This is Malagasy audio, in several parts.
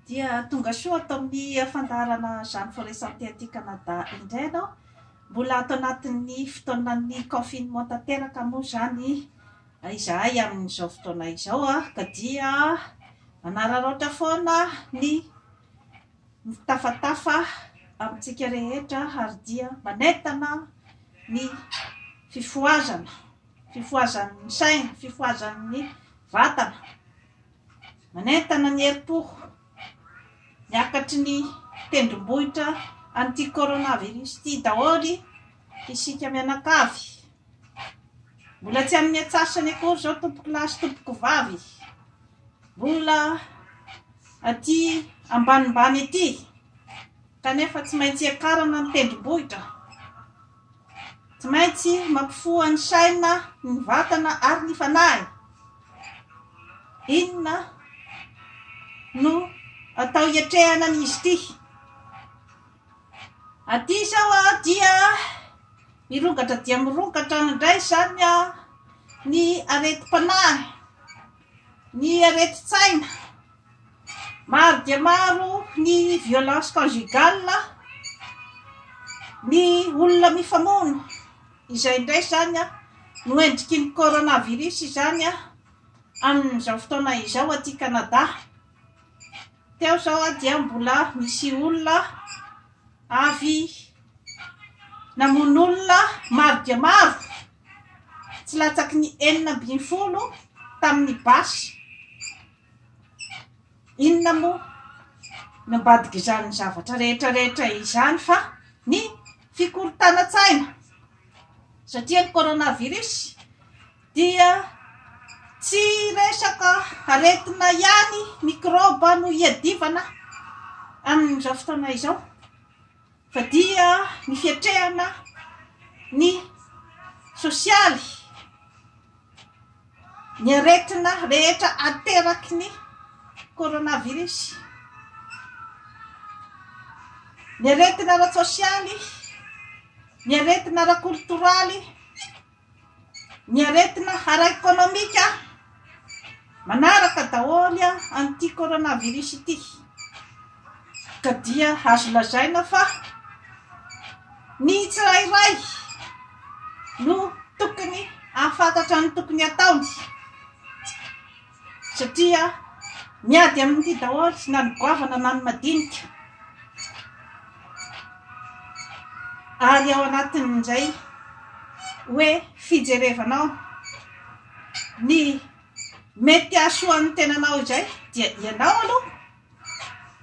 dia tonga soa ato amin'ny fandaharana Jeanne Foresan Teaty Canada indray ianao. Mbola ato anatin'ny fotoanan'ny confinement tanteraka moa izany izahay amin'izao fotoana izao ah, ka dia manararaotra foana ny Mitafatafa amintsika rehetra ary dia manentana ny fifohazana, fifohazan'ny saina, fifohazan'ny vatana, manentana ny herim-po miakatry ny tendrombohitra an'ity coronavirus ity daholo isika mianakavy. Mbola tsy amin'ny atsasany akory izao tompoko lahy sy tompoko vavy. Mbola aty ambanimbany aty. Kanefa tsy maintsy iakarana ny tendrombohitra. Tsy maintsy mampifoha ny saina, ny vatana ary ny fanahy. Inona no atao hiatrehana an'izy ity? Aty izao dia mirongatra dia mirongatra indray izany ny aretim-panahy, ny aretin-tsaina. Maro dia maro ny violence conjugale, ny olona mifamono. Izay indray izany no endriky ny coronavirus izany amin'izao fotoana izao aty Canada. Teo izao aho dia mbola nisy olona avy namono olona maro dia maro, tsy latsaky ny enina ambin'ny folo tamin'ny basy. Inona moa ny ambadik'izany zavatra rehetra rehetra izany fa ny fikorontanan-tsaina satria ny coronavirus. dia tsy resaka aretina ihany, mikraoba no iadivana amin'izao fotoana izao fa dia ny fiatrehana ny sosialy, ny aretina rehetra ateraky ny coronavirus, ny aretina ara-tsosialy, ny aretina ara-koltoraly. Ny aretina ara-ekonomika manaraka daholo an'ity coronavirus ity ka dia azo lazaina fa ny tsirairay no tokony hahafantatra ny tokony hataony. Satria miady amin'ity daholo na ny goavana na ny madinika. Ary ao anatin'izay hoe fijerevanao ny mety hahasoa ny tenanao izay dia ianao aloha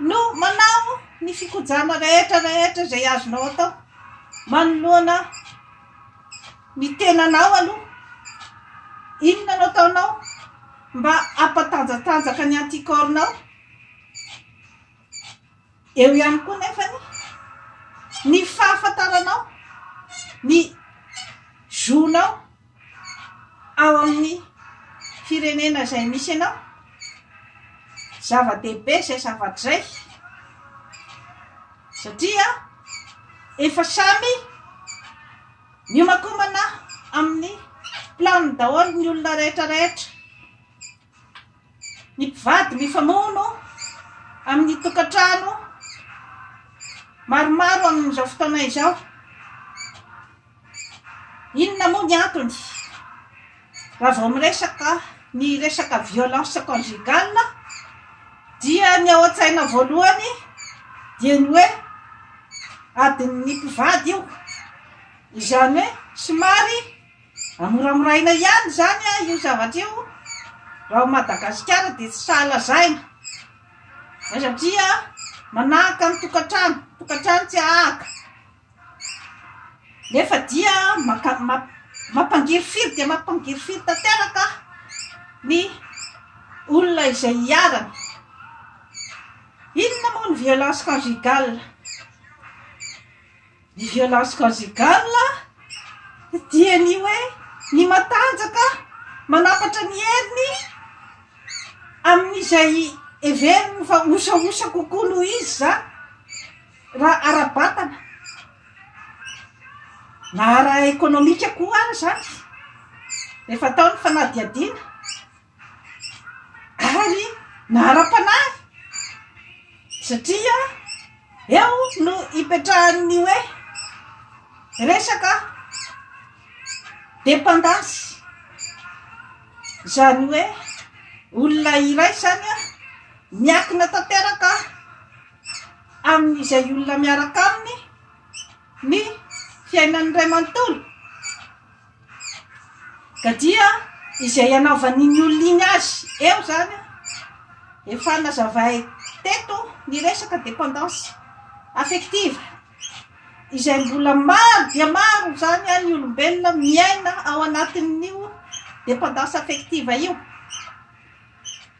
no manao ny fikojana rehetra rehetra izay azonao atao manoloana ny tenanao aloha inona no ataonao mba hampatanjatanjaka ny anticorps-nao eo ihany koa nefa ny ny fahafantaranao ny zonao ao amin'ny firenena izay misy anao, zava-dehibe izay zavatra izay satria efa samy miomakomana amin'ny planiny daholo ny olona rehetra rehetra, ny mpivady mifamono amin'ny tokantrano maromaro amin'izao fotoana izao. Inona moa ny antony? Raha vao miresaka ny resaka violence conjugale dia ny ao an-tsaina voalohany dia ny hoe adin'ny mpivady io. Izany hoe somary amoramoraina ihany izany io zavatra io raha ao Madagasikara dia tsy sahy lazaina satria manahaka ny tokantrano, tokantrano tsy ahaka. Nefa dia mampangirifiry dia mampangirifiry tanteraka ny olona izay hiarany. Inona moa ny violence conjugale? Ny violence conjugale dia ny hoe ny matanjaka manapatra ny heriny amin'izay heveriny fa osaosa kokoa noho izy zany. Raha ara-batana na ara-ekonomika koa ary izany, rehefa atao ny fanadihadiana, ary na ara-panahy, satria eo no ipetrahan'ny hoe resaka dependance, izany hoe olona iray izany miankina tanteraka. Amin' izay olona miaraka aminy ny fiainany iray manontolo, ka dia izay hanaovan' iny olona iny azy eo izany, efa nazavay teto ny resaka dependance affective, izay mbola maro dia maro izany ny olombelona miaina ao anatin' io dependance affective io.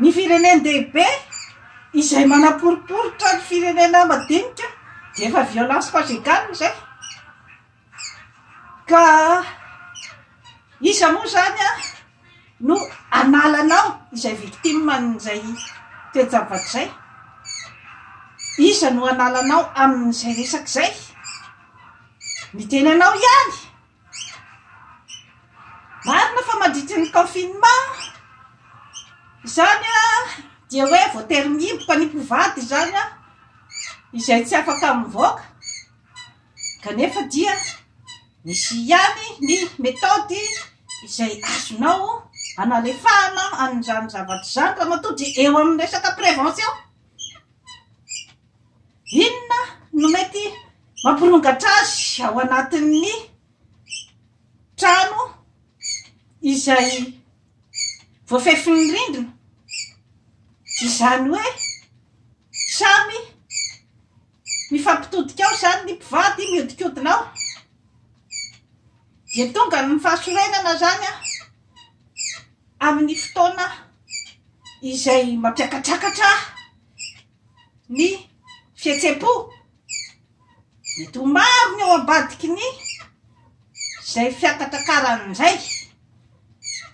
Ny firenen-dehibe izay manaporiporitra ny firenena madinika dia efa violence conjugale izay. Ka iza moa izany no analanao izay victime an'izay toe-javatra izay? Iza no analanao amin'izay resaka izay? Ny tenanao ihany. Marina fa mandritra ny confinement izany dia hoe voatery mihiboka ny mpivady izany izay tsy afaka mivoaka kanefa dia misy ihany ny methode izay azonao hanalefahana an'izany zavatra izany ramatoa dia eo amin'ny resaka prévention. Inona no mety mampirongatra azy ao anatin'ny trano izay voafefin'ny rindrina? Izany hoe samy mifampitodika ao izany ny mpivady mihodinkodina ao dia tonga ny fahasorenana izany a amin'ny fotoana izay mampiakatrakatra ny fihetsem-po. Mety ho maro ny ao ambadiky ny izay fiakatrakarany indray.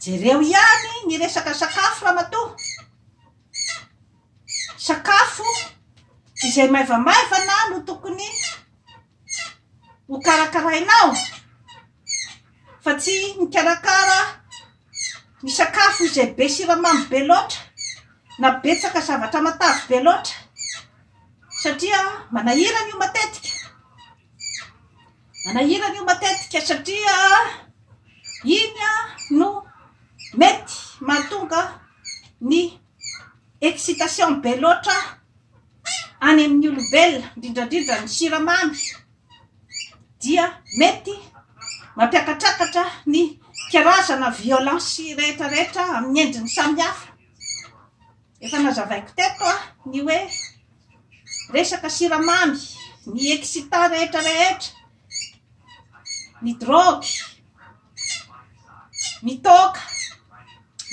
Jereo ihany ny resaka sakafo ramatoa. Sakafo izay maivamaivana no tokony ho karakarainao fa tsy mikarakara Ny sakafo izay be siramamy be loatra na betsaka zavatra matavy be loatra satria manahirana io matetika. Manahirana io matetika satria iny no mety mahatonga ny excitation be loatra any amin'ny olombelona, indrindrandrindra ny siramamy dia mety mampiakatrakatra ny karazana violence rehetra rehetra amin'ny endriny samy hafa. Efa nazavaiko teto a, ny hoe resaka siramamy, ny excitant rehetra rehetra, ny drogue, ny toaka,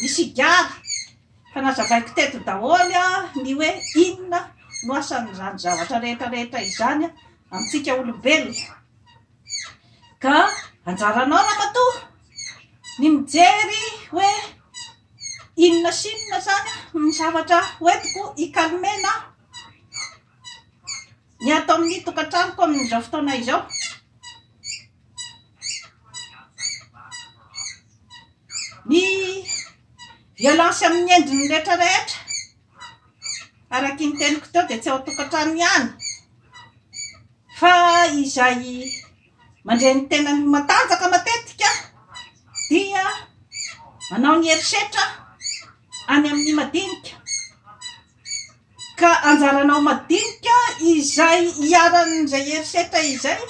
ny sigara. Fa nazavaiko teto daholo ny hoe inona no asan'izany zavatra rehetra rehetra izany amintsika olombelona. Ka anjaranao ramatoa ny mijery hoe inona sy inona izany ny zavatra hoentiko ikalmena. Ny ato amin'ny tokantranoko amin'izao fotoana izao. Ny violence amin'ny endriny rehetra rehetra. Araky ny teniko teo dia tsy ao tokantrano ihany. Fa izay mandre ny tenany matanjaka matetika dia manao ny herisetra any amin'ny madinika. Ka anjaranao madinika izay iharan'izay herisetra izay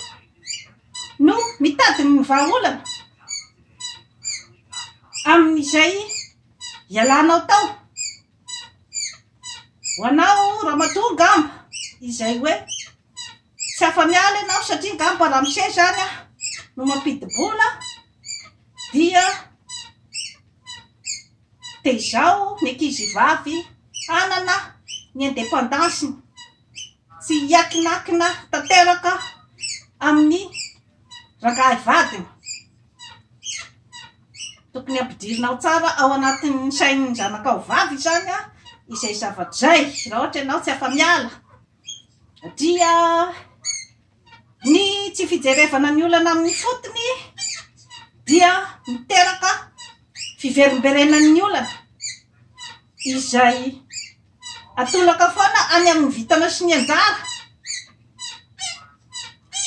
no mitady ny vahaolana amin'izay ialanao tao. Ho anao ramatoa angamba izay hoe. Tsy afa-miala ianao satria angamba ramose izany no mampidi-bola dia tezaho ny ankizivavy hanana ny independance-ny, tsy hiakinakina tanteraka amin'ny rangahy vadiny. Tokony hampidirinao tsara ao anatin'ny sain'ny zanakao vavy izany izay zavatra izay raha ohatra ianao tsy afa-miala. dia ny tsy fijerevana ny olana amin'ny fotony dia miteraka fiverimberenan'ny olana izay atolaka foana any amin'ny vitana sy ny anjara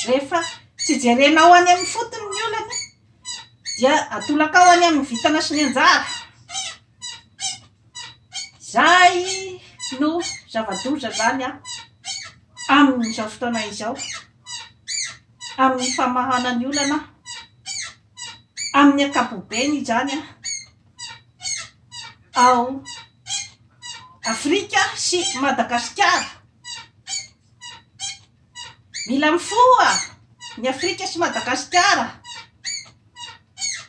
rehefa tsy jerenao any amin'ny fotony ny olana dia atolaka ao any amin'ny vitana sy ny anjara Izay no zava-doza izany amin'izao fotoana izao, amin'ny famahana ny olana, amin'ny ankapobeny izany ao Afrika sy Madagasikara. Mila mifoha ny Afrika sy Madagasikara.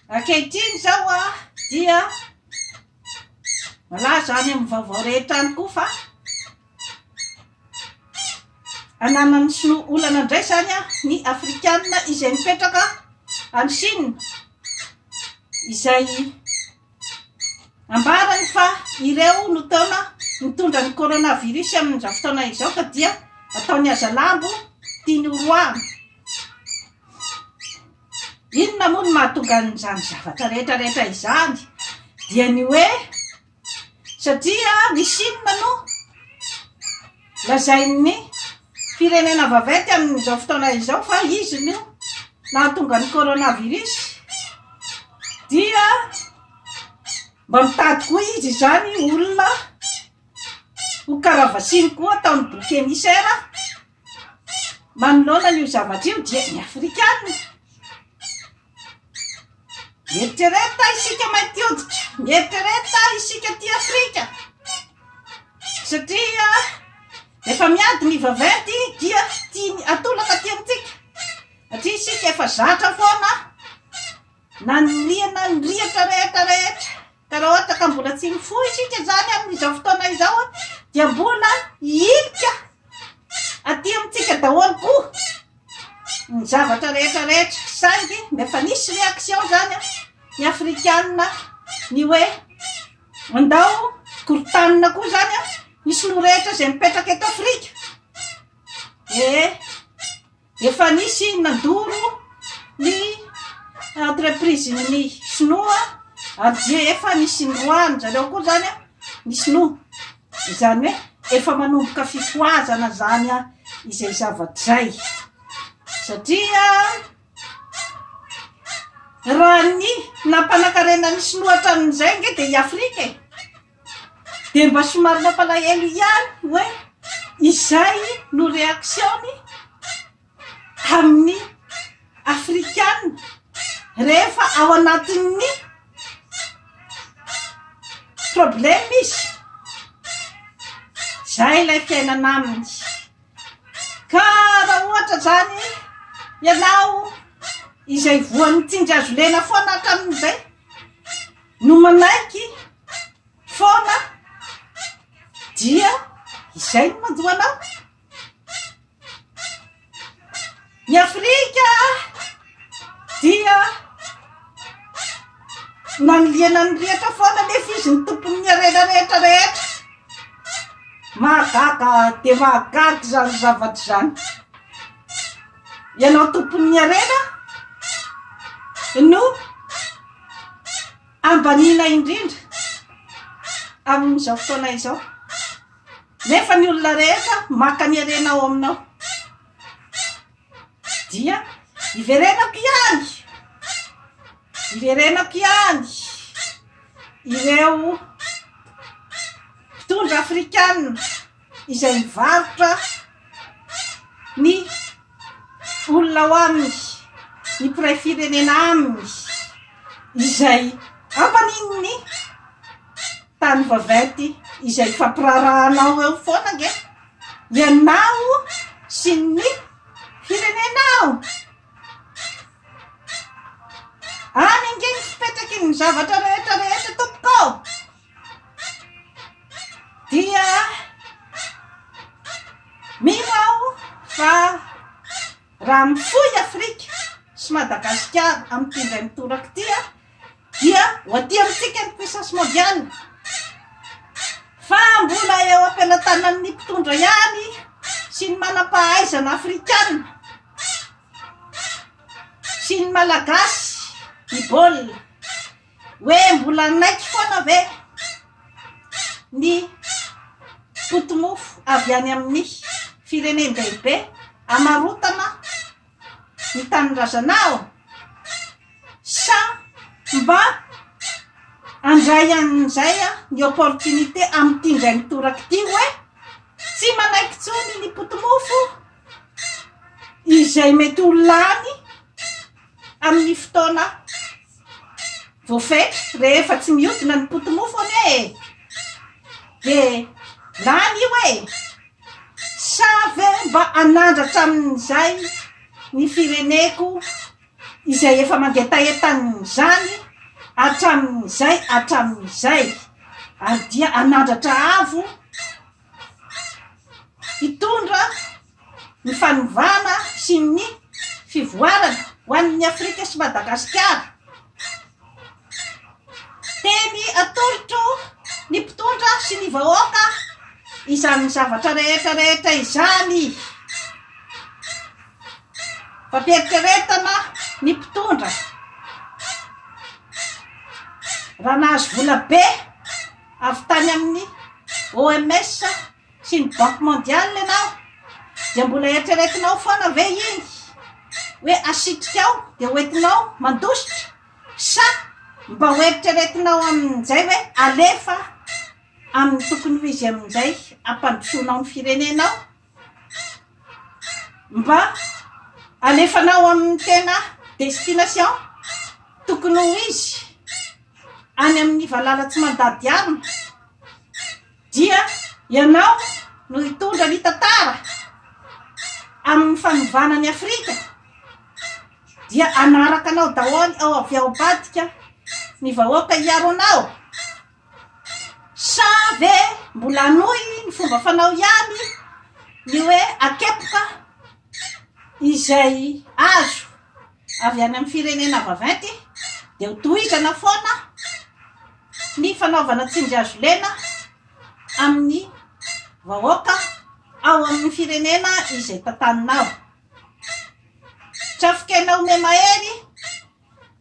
Ankehitriny izao a, dia malaza any amin'ny vaovao rehetra any koa fa ananan'ny sinoa olana indray izany a, ny Afrikanina izay mipetraka any Chine izay Ambarany fa ireo no taona nitondra ny coronavirus amin'izao fotoana izao ka dia ataony hazalambo tiany horoahana. Inona moa no mahatonga an'izany zavatra rehetra rehetra izany? Dia ny hoe satria ny Chine no Lazain'ny firenena vaventy amin'izao fotoana izao fa izy no nahatonga ny coronavirus dia mba mitady koa izy izany olona ho karavasiny koa ataon'ny boky emisera manoloana an'io zavatra io dia ny afrikana Mieritrereta isika mainty hoditra, mieritrereta isika aty Afrika satria efa miady ny vaventy dia tiany atolaka aty amintsika satria isika efa zatra foana na ny liana ny rihatra rehetra rehetra. Ka raha ohatra ka mbola tsy mifoha isika izany amin'izao fotoana izao dia mbola hiilika aty amintsika daholo koa ny zavatra rehetra rehetra. Saingy ny efa nisy réaction izany ny afrikanina ny hoe andao korontanina koa izany ny sinoa rehetra izay mipetraka eto Afrika. Ee. Efa nisy nandoro ny entreprise ny sinoa ary dia efa nisy niroahany zareo koa zany a ny sinoa izany hoe efa manomboka fifohazana zany a izay zavatra zay satria raha ny nampanakarena ny sinoa hatramin'izay nge dia i afrika e Dia mba somary nampalahelo ihany hoe izay no reaction-ny amin'ny afrikana rehefa ao anatin'ny problème izy. Izay ilay fiainana aminy. Ka raha ohatra izany ianao izay voan'ny tsinjazolena foana hatramin'izay. no manaiky foana dia izay no mandoa anao ny afrika dia maniliana ny rihatra foana nefa izy ny tompon'ny harena rehetra rehetra mahagaga dia mahagaga izany zavatra izany ianao tompon'ny harena no ambaniana indrindra amin'izao fotoana izao. Nefa ny olona rehetra maka ny harena ao aminao. Dia iverenako ihany, iverenako ihany ireo mpitondra afrikana. izay mivarotra ny olona ao aminy, ny mpiray firenena aminy, izay ampanin'ny tany vaventy izay fampirarahanao eo foana nge ianao sy ny firenenao. Any nge ny fipetraky ny zavatra rehetra rehetra tompoko. Dia mino aho fa raha mifoy Afrika sy Madagasikara amin'ity indray mitoraka ity an, dia ho aty amintsika ny puissance mondiale fa mbola eo am-pelatanan'ny mpitondra ihany sy ny manam-pahaizana afrikana sy ny malagasy ny baolina. Hoe mbola hanaiky foana ve ny poti-mofo avy any amin'ny firenen-dehibe amarotana ny tanindrazanao? Sa mba handray an'izay ny opportunité amin'ity indray mitoraka ity hoe tsy manaiky intsony ny poti-mofo izay mety ho lany Amin'ny fotoana voafetra, rehefa tsy mihodina ny poti-mofo anie e! dia lany io e! Sa ve mba hanandratra amin'izay ny fireneko izay efa mangetaheta an'izany hatramin'izay hatramin'izay, ary dia hanandratra avo hitondra ny fanovana sy ny fivoarana ho an'ny Afrika sy Madagasikara. Teny atolotro ny mpitondra sy ny vahoaka izany zavatra rehetra rehetra izany. Fampieritreretana ny mpitondra raha nahazo vola be avy tany amin'ny OMS sy ny banque mondiale ianao dia mbola eritreretinao foana ve iny hoe asitrika ao dia hoentinao mandositra sa mba ho eritreretinao amin'izay hoe alefa amin'ny tokony ho izy amin'izay ampandrosoanao ny firenenao mba alefanao amin'ny tena destination tokony ho izy any amin'ny valala tsy mandady arina Dia ianao no hitondra ny tantara amin'ny fanovana an'i Afrika dia hanaraka anao daholo ao avy ao ambadika ny vahoaka hiaro anao sa ve mbola hanohy ny fomba fanao ihany ny hoe akepoka izay azo avy any amin'ny firenena vaventy dia ho tohizana foana sy ny fanaovana tsindrihazo lena amin'ny vahoaka ao amin'ny firenena izay tantaninao. Trafikena ome mahery,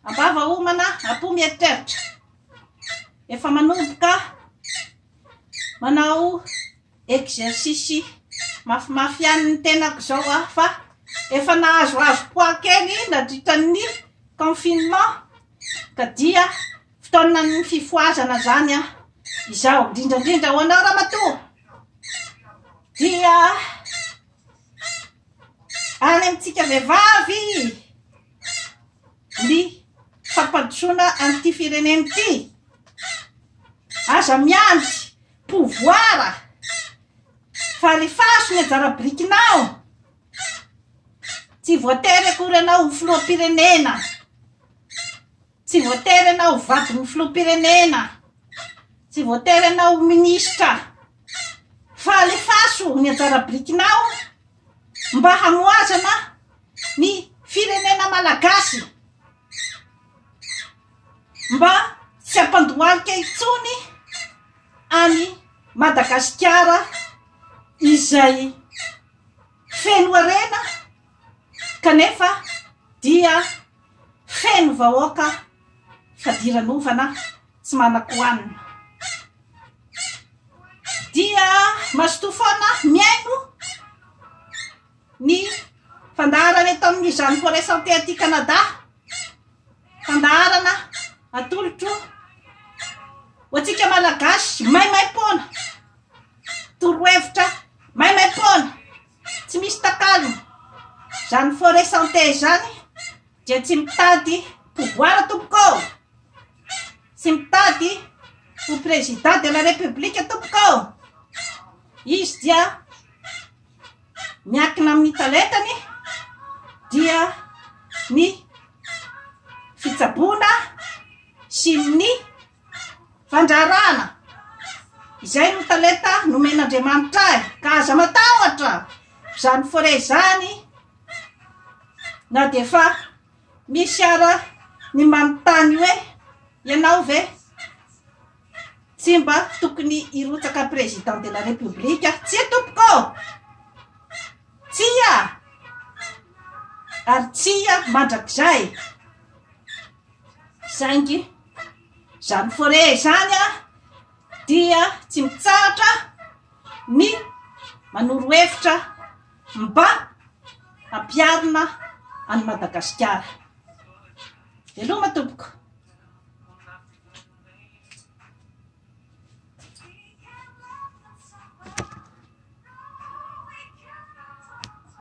ambava homana, apo mieritreritra. Efa manomboka manao exercice mafimafy ihany ny tenako izao aho fa efa nahazoazo poids kely nandritra ny confinement ka dia Fotoanan'ny fifohazana zany an izao indrindra indrindra ho anao ramatoa dia any amintsika vehivavy ny fampandrosoana an'ity firenena ity aza miandry pouvoir fa alefaso ny anjara birikinao tsy voatery akory ianao ho filoham-pirenena Tsy voatery ianao ho vadin'ny filoham-pirenena, tsy voatery ianao ho minisitra, fa alefaso ny anjara birikinao mba hamohazana ny firenena malagasy, mba tsy hampandohalika intsony an'i Madagasikara izay feno harena kanefa dia Feno vahoaka fadiranovana tsy manan-kohanina. Dia mazotoa foana mihaino ny fandaharana eto amin'ny Jeanne Forêt Santé aty Canada. Fandaharana atolotro ho antsika Malagasy maimaim-poana. Torohevitra maimaim-poana Tsy misy takalony zany forêt santé zany dia tsy mitady pouvoir tompoko ô! Tsy mitady ho président de la république tompoko ô! Izy dia miankina amin'ny talentany dia ny fitsaboana sy ny Fandrarana, izay no talenta nomen'Andriamanitra ahy, ka aza matahotra izany fore izany na dia efa misy ara ny manontany hoe ianao ve tsy mba tokony hirotsaka président de la république? Tsia tompoko ô! Tsia! Ary tsia mandrakizay! Saingy izany foret izany dia tsy mitsahatra ny manoro hevitra mba hampiharina an'i Madagasikara. Veloma tompoko.